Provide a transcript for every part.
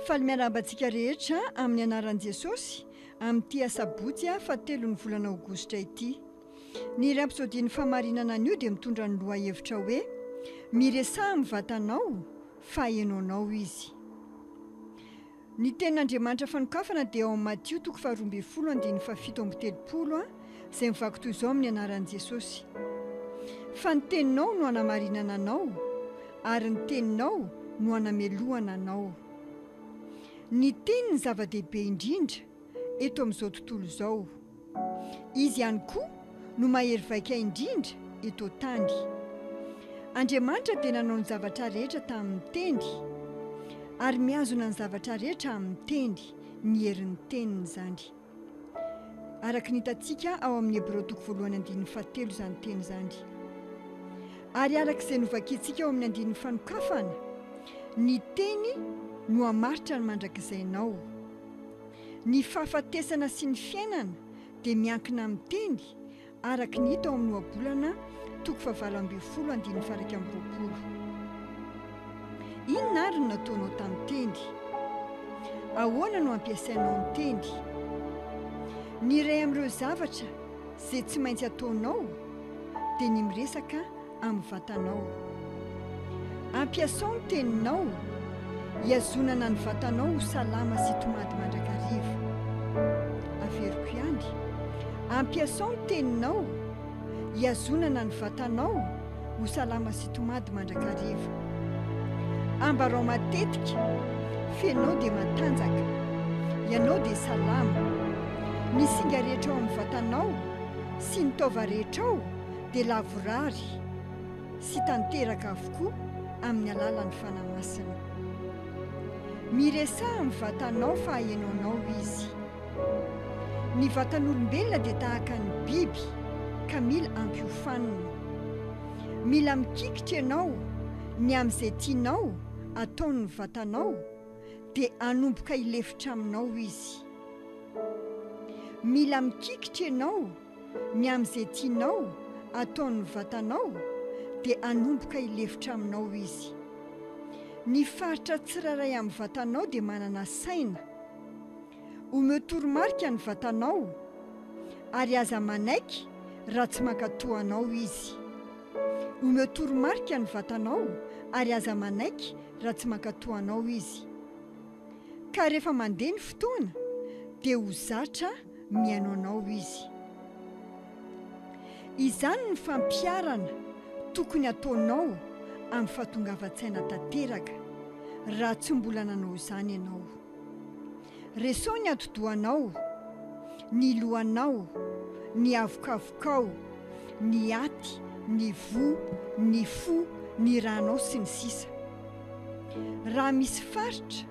Faly miarahaba antsika rehetra amin'ny anaran'i Jesosy amin'ity asabotsy fahatelon'ny volana aogositra ity. Ny rapsodian'ny fahamarinana anio dia mitondra ny lohahevitra hoe Miresaha amin'ny vatanao fa henoinao izy. Ny tenin'Andriamanitra fanokafana dia ao amin'ny Matio toko faharoa ambin'ny folo andininy fahafito amby telopolo izay mivaky toy izao amin'ny anaran'i Jesosy. Fa ny teninao no hanamarinana anao ary ny teninao no hanamelohana anao. Ny teny no zava-dehibe indrindra eto amin'izao tontolo izao. Izy ihany koa no mahery vaika indrindra eto an-tany. Andriamanitra dia nanao ny zavatra rehetra tamin'ny teny ary mihazona ny zavatra rehetra amin'ny teny, ny herin'ny teniny izany. araka ny hitantsika ao amin'ny Hebreo toko voalohany andininy fahatelo izany teny izany. Ary araka izay novakintsika ao amin'ny andininy fanokafana, ny teny no hamaritra ny mandrakizainao. Ny fahafatesana sy ny fiainana dia miankina amin'ny teny, araka ny hita ao amin'ny Ohabolana toko fahavalo ambin'ny folo andininy faha-iraika amby roapolo. Inona àry no nataonao tamin'ny teny? Ahoana no ampiasainao ny teny? Ny iray amin'ireo zavatra izay tsy maintsy ataonao dia ny miresaka amin'ny vatanao. Ampiasao ny teninao hihazonana ny vatanao ho salama sy tomady mandrakariva. Averiko ihany, ampiasao ny teninao hihazonana ny vatanao ho salama sy tomady mandrakariva. Ambarao matetika fa ianao dia matanjaka, ianao dia salama. Ny singa rehetra ao amin'ny vatanao sy ny taova rehetra ao dia lavorary sy tanteraka avokoa amin'ny alalan'ny Fanahy Masina. Miresaha amin'ny vatanao fahenoanao Izy. Ny vatan'olombelona dia tahaka ny biby ka mila ampiofanina. Mila mikikitra ianao ny amin'izay tianao ataon'ny vatanao dia hanomboka hilefitra aminao Izy. Mila mikikitra ianao. ny amin'izay tianao ataon'ny vatanao dia hanomboka hilefitra aminao izy. Ny faritra tsirairay amin'ny vatanao dia manana saina. Omeo toromarika ny vatanao ary aza manaiky raha tsy mankatò anao izy. Omeo toromarika ny vatanao ary aza manaiky raha tsy mankatò anao izy. Ka rehefa mandeha ny fotoana dia ho zatra mihaino anao izy. Izany ny fampiharana tokony ataonao amin'ny fahatongavan-tsaina tanteraka raha tsy mbola nanao izany ianao. Reseo ny atidohanao, ny lohanao, ny havokavokao, ny aty, ny voa, ny fo, ny ranao sy ny sisa. Raha misy faritra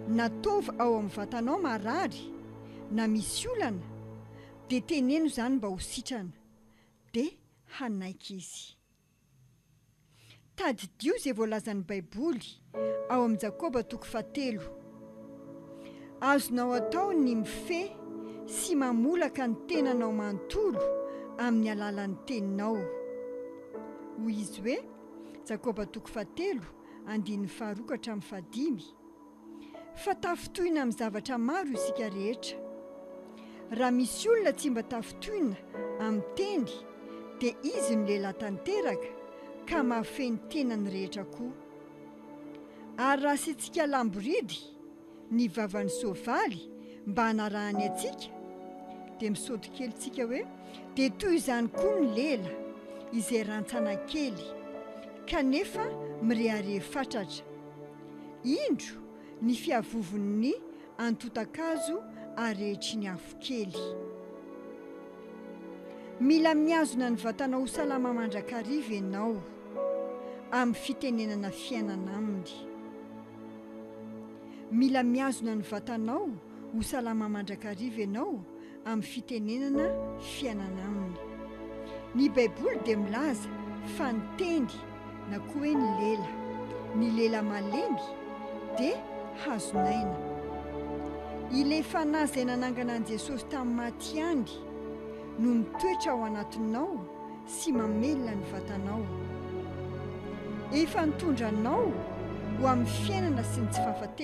na taova ao amin'ny vatanao marary na misy olana dia teneno izany mba ho sitrana dia hanaiky izy. Tadidio izay voalazan'ny Baiboly ao amin'ny Jakoba toko fahatelo, Azonao atao ny mifehy sy mamolaka ny tenanao manontolo amin'ny alalan'ny teninao. Hoy izy hoe. Jakoba toko fahatelo, andininy faharoa ka hatramin'ny fahadimy, fa tafintohina amin'ny zavatra maro isika rehetra. Raha misy olona tsy mba tafintohina amin'ny teny, dia izy no lehilahy tanteraka, ka mahafehy ny tenany rehetra koa. Ary raha asiantsika lamboridy ny vavan'ny soavaly mba hanarahany antsika dia misaoty kely tsika hoe dia toy izany koa ny lela izay rantsana kely kanefa mirehareha fatratra indro ny fiavovon'ny antotakazo arehetry ny afo kely mila mihazona ny vatana ho salama mandrakariva ianao amin'ny fitenenana fiainana aminy Mila mihazona ny vatanao ho salama mandrakariva ianao amin'ny fitenenana fiainana aminy. Ny Baiboly dia milaza fa ny teny na koa hoe ny lela, ny lela malemy, dia hazon'aina. Ilay Fanahy izay nanangana an'i Jesosy tamin'ny maty ihany no mitoetra ao anatinao sy mamelona ny vatanao. Efa nitondra anao ho amin'ny fiainana sy ny tsy fahafatesana.